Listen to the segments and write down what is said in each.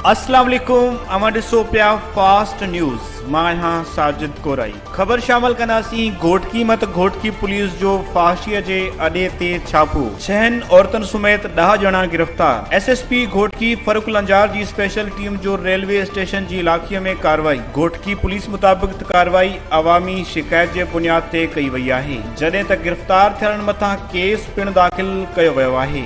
اسلام عليڪم اوهان ڏسو پيا فاسٽ نيوز مان آهيان ساجد ڪورائي خبر شامل ڪنداسين گهوٽڪي مت گهوٽڪي پوليس جو فحاشي جي اڏي تي ڇاپو ڇهن عورتن سميت ڏهه ڄڻا گرفتار S S P Ghotki Farrukh Lanjar جي اسپيشل ٽيم جو ريلوي اسٽيشن جي علاقي ۾ ڪارروائي گهوٽڪي پوليس مطابق ته ڪارروائي عوامي شڪايت جي بنياد تي ڪئي وئي آهي جڏهن ته گرفتار ٿيلن مٿان ڪيس پڻ داخل ڪيو ويو آهي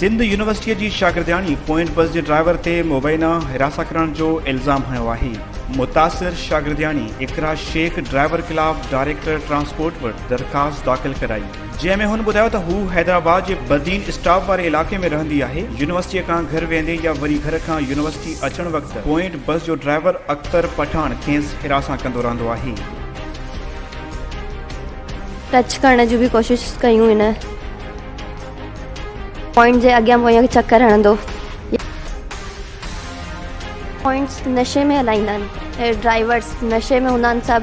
سنڌ يونيورسٽيء جي شاگردياڻي پوئنٽ بس جي ڊرائيور تي مبينا حراسان ڪرڻ جو الزام هنيو آهي متاثر شاگردياڻي اقرا شيخ ڊرائيور خلاف ڊائريڪٽر ٽرانسپورٽ وٽ درخواست داخل ڪرائي جنهن ۾ هن ٻڌايو ته هو حيدرآباد جي بدين اسٽاپ واري علائقي ۾ رهندي آهي يونيورسٽيء کان گهر ويندي يا وري گهر کان يونيورسٽي اچڻ وقت پوائنٽ بس جو ڊرائيور اختر پٺاڻ کيس حراسان ڪندو رهندو آهي ٽچ ڪرڻ جون به ڪوشش ڪيون هن پوائنٽ جي اڳيان پويان چڪر هڻندو يا پوائنٽس نشي ۾ هلائيندا آهن هي ڊرائيورس نشي ۾ هوندا آهن سڀ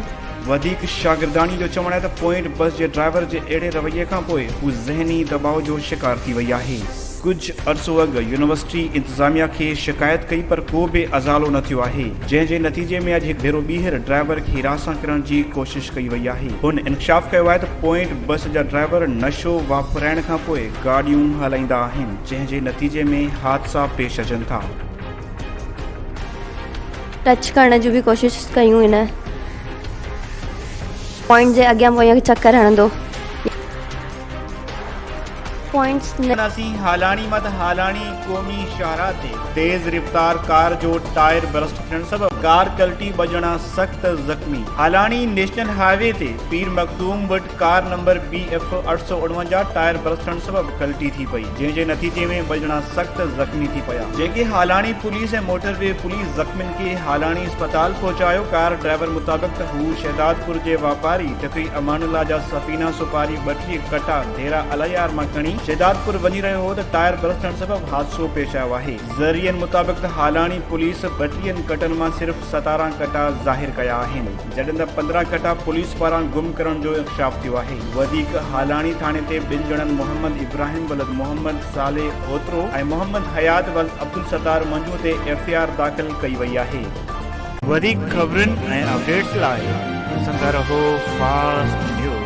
وڌيڪ شاگرداڻي جو چوڻ آهي ته پوائنٽ بس جي ڊرائيور جي اهڙي رويي کان پوء هو ذهني دٻاء جو شڪار ٿي وئي آهي. ڪجهه عرصو اڳ يونيورسٽي انتظاميا کي شڪايت ڪئي پر ڪو به ازالو نه ٿيو آهي جنهن جي نتيجي ۾ اڄ هڪ ڀيرو ٻيهر ڊرائيور کي هراسان ڪرڻ جي ڪوشش ڪئي وئي آهي هن انڪشاف ڪيو آهي ته پوائنٽ بس جا ڊرائيور نشو واپرائڻ کان پوء گاڏيون هلائيندا آهن، جنهن جي نتيجي ۾ حادثا پيش اچن ٿا. ٽچ ڪرڻ جون به ڪوشش ڪيون هن پوائنٽ جي اڳيان پويان چڪر هڻندو. پوائنٽس نه. نسيم هالاڻي مت هالاڻي قومي شاهراهه تي تيز رفتار ڪار جو ٽائر برسٽ ٿيڻ سبب ڪار ڪلٽي ٻه ڄڻا سخت زخمي هالاڻي نيشنل هاء وي تي پير مخدوم وٽ ڪار نمبر بي ايف اٺ سؤ اڻونجاهه ٽائر برسٽ ٿيڻ سبب ڪلٽي ٿي پئي جنهن جي نتيجي ۾ ٻه ڄڻا سخت زخمي ٿي پيا جنهن کي Halani police ۽ motorway police زخمين کي هالاڻي اسپتال پهچايو ڪار ڊرائيور مطابق ته هو شهدادپور جي واپاري ٽڪري امان الله جا سفينه سوپاري ٻٽيهه ڪٽا هيرا الهي آر مان کڻي شهدادپور وڃي رهيو هو ته ٽائر برسٽ ٿيڻ سبب حادثو پيش آيو آهي ذريعن مطابق ته هالاڻي پوليس ٻٽيهن ڪٽن مان صرف ستارهن ڪٽا ظاهر ڪيا آهن جڏهن ته پندرهن ڪٽا پوليس پاران گم ڪرڻ جو انڪشاف ٿيو آهي وڌيڪ هالاڻي ٿاڻي تي ٻن ڄڻن محمد ابراهيم ولد محمد صالح اوترو ۽ محمد حيات ولد عبدالستار منجهو تي ايف اي آر داخل ڪئي وئي آهي. وڌيڪ خبرن ۽ اپڊيٽس لاء ڏسندا رهو فاسٽ نيوز.